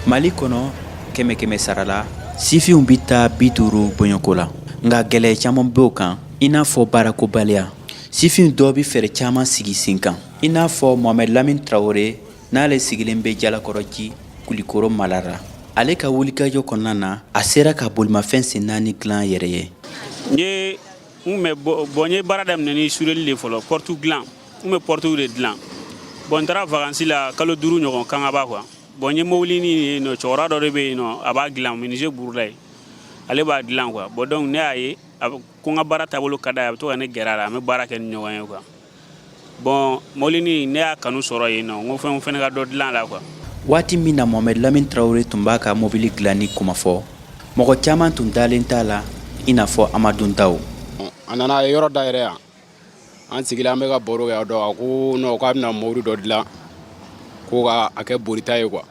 mali kɔnɔ kɛmɛ kɛmɛ sarala sifinw bɛ taa bi duuru bɔɲɔko la nka gɛlɛya caman b'o kan i n'a fɔ baarakobaliya sifin dɔw bɛ fɛɛrɛ caman sigi sen kan i n'a fɔ mohamɛd lamin tarawele n'ale sigilen bɛ jalakɔrɔji kulikoro mara la ale ka wulikajɔ kɔnɔna na a sera ka bolimafɛn sen naani dilan yɛrɛ ye n kun bɛ bɔn n ye baara daminɛ ni sureli de fɔlɔ pɔrtu dilan n bɛ pɔrtuw de dilan bɔn n taara vakansi la kalo duuru ɲɔgɔn kangaba kuwa bɔn n ye mobilinin ye nɔ cɛkɔrɔba dɔ de bɛ yen nɔ a b'a dilan minise burulayi ale b'a dilan kuwa bɔn donc ne y'a ye ko n ka baara taabolo ka d'a ye a bɛ to ka ne gɛrɛ a la an bɛ baara kɛ ni ɲɔgɔn ye kuwa bɔn mobilinin ne y'a kanu sɔrɔ yen nɔ n ko fo n fɛnɛ ka dɔ dilan la kuwa waati min na mohamed lamin tarawele tun b'a ka mobili dilanni kuma fɔ mɔgɔ caman tun dalen t'a la i n'a fɔ amadu ndaw a nana a ye yɔrɔ dayɛlɛ yan an sigilen an bɛ ka baro kɛ a don a ko nɔn k'a bɛna mobili dɔ dilan ko ka a kɛ borita ye kuwa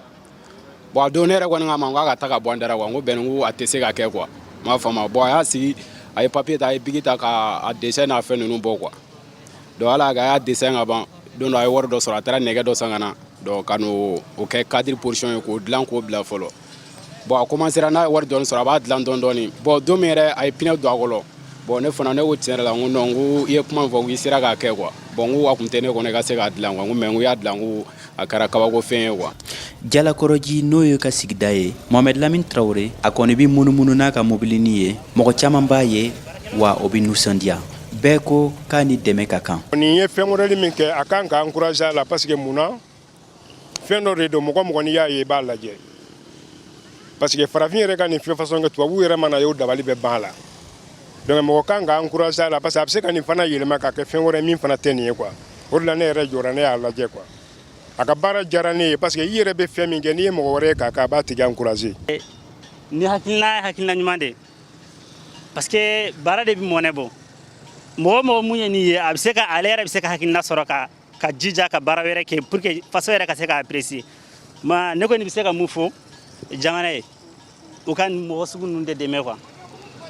Bon a don ne yɛrɛ kɔni k'a ma k'a ka taa ka bɔ an da ra quoi n ko Bɛn ko a tɛ se ka kɛ quoi n m'a faamu bon a y'a sigi a ye papier ta a ye bic ta k'a dessin n'a fɛn ninnu bɔ quoi donc hali a y'a dessin ka ban don dɔ a ye wari dɔ sɔrɔ a taara nɛgɛ dɔ san ka na donc ka n'o kɛ cadre position ye k'o dilan k'o bila fɔlɔ bon a commencera n'a ye wari dɔɔni sɔrɔ a b'a dilan dɔɔni dɔɔni bon don min yɛrɛ a ye pinɛ don a kɔrɔ bon ne fana ne ko tiɲɛ yɛrɛ la n ko non n ko i ye kuma min fɔ n ko i sera k'a kɛ quoi bon n ko a tun tɛ ne kɔnɔ i ka se k'a dilan quoi mais n ko i y'a dilan n ko a kɛra kabako fɛn ye quoi jalakɔrɔji n'o y'a ka sigida ye mohamɛd lamin tarawele a kɔni bɛ munumunu n'a ka mobilini ye mɔgɔ caman b'a ye wa u bɛ nisɔndiya bɛɛ ko k'a ni dɛmɛ ka kan nin ye fɛn modɛli min kɛ a kan ka encourager a la parce que mun na fɛn dɔ de don mɔgɔ mɔgɔ n'i y'a ye i b'a lajɛ parce que farafin yɛrɛ ka nin fɛn façon kɛ tubabu yɛrɛ mana a ye o dabali bɛ ban a la donc mɔgɔ kan ka encourager a la parce que a bɛ se ka nin fana yɛlɛma ka kɛ fɛn wɛrɛ min fana tɛ nin ye quoi o de la ne yɛrɛ jɔra ne y'a lajɛ quoi a ka baara diyara ne ye parce que i yɛrɛ bɛ fɛn min kɛ n'i ye mɔgɔ wɛrɛ ye k'a kɛ a b'a tigi encourager. nin hakilina ye hakilina ɲuman de ye parce que baara de bɛ mɔnɛ bɔ mɔgɔ mɔgɔ min ye nin ye a bɛ se ka ale yɛrɛ bɛ se ka hakilina sɔrɔ ka k'a jija ka baara wɛrɛ kɛ pour que faso yɛrɛ ka se k'a apprécier ma ne kɔni bɛ se ka min fɔ jamana ye u ka nin mɔgɔ sugu ninnu de dɛmɛ quoi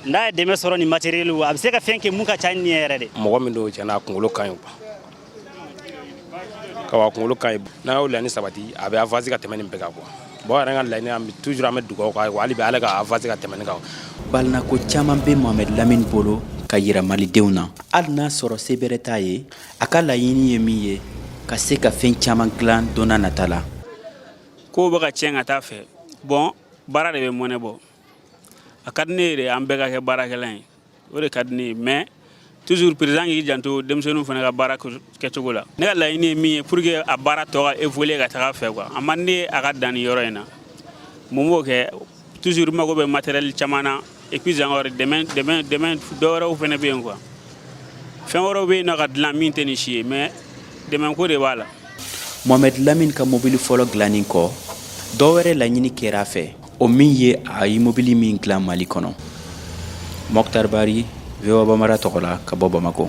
n'a ye dɛmɛ sɔrɔ ni matériel a bɛ se ka fɛn kɛ min ka ca ni nin yɛrɛ de mɔgɔ min don tiɲɛ na a kunkolo ka ɲi quoi a kunkolo ka ɲi n'a y'o laɲini sabati a bɛ avance ka tɛmɛ nin bɛɛ kan quoi bon yɛrɛ ka laɲini an bɛ toujours an bɛ dugawu k'a ye quoi hali bi ala ka avance ka tɛmɛ nin kan balinako caman bɛ mohamed lamini bolo k'a yira malidenw na hali n'a sɔrɔ se bɛrɛ t'a ye a ka laɲini ye min ye ka se ka fɛn caman dilan don na nata la kow bɛ ka tiɲɛ ka taa fɛ bon baara de bɛ mɔnɛ bɔ a ka di ne ye de an bɛɛ ka kɛ baarakɛla ye o de ka di ne ye mais toujours président k'i janto denmisɛnninw fana ka baara kɛcogo la ne ka laɲini ye min ye pour que a baara tɔ ka évoluer ka taga fɛ quoi a man di ne ye a ka dan nin yɔrɔ in na mun b'o kɛ Toujours mago bɛ matériel caman na et puis encore dɛmɛ dɔ wɛrɛw fana bɛ yen quoi fɛn wɛrɛw bɛ yen na ka dilan min tɛ nin si ye mais dɛmɛko de b'a la Mohamed Lamine ka mobili fɔlɔ dilannen kɔ dɔ wɛrɛ laɲini kɛra a fɛ o min ye a ye mobili min dilan mali kɔnɔ Moctar Barry VOA Bambara tɔgɔ la ka bɔ bamakɔ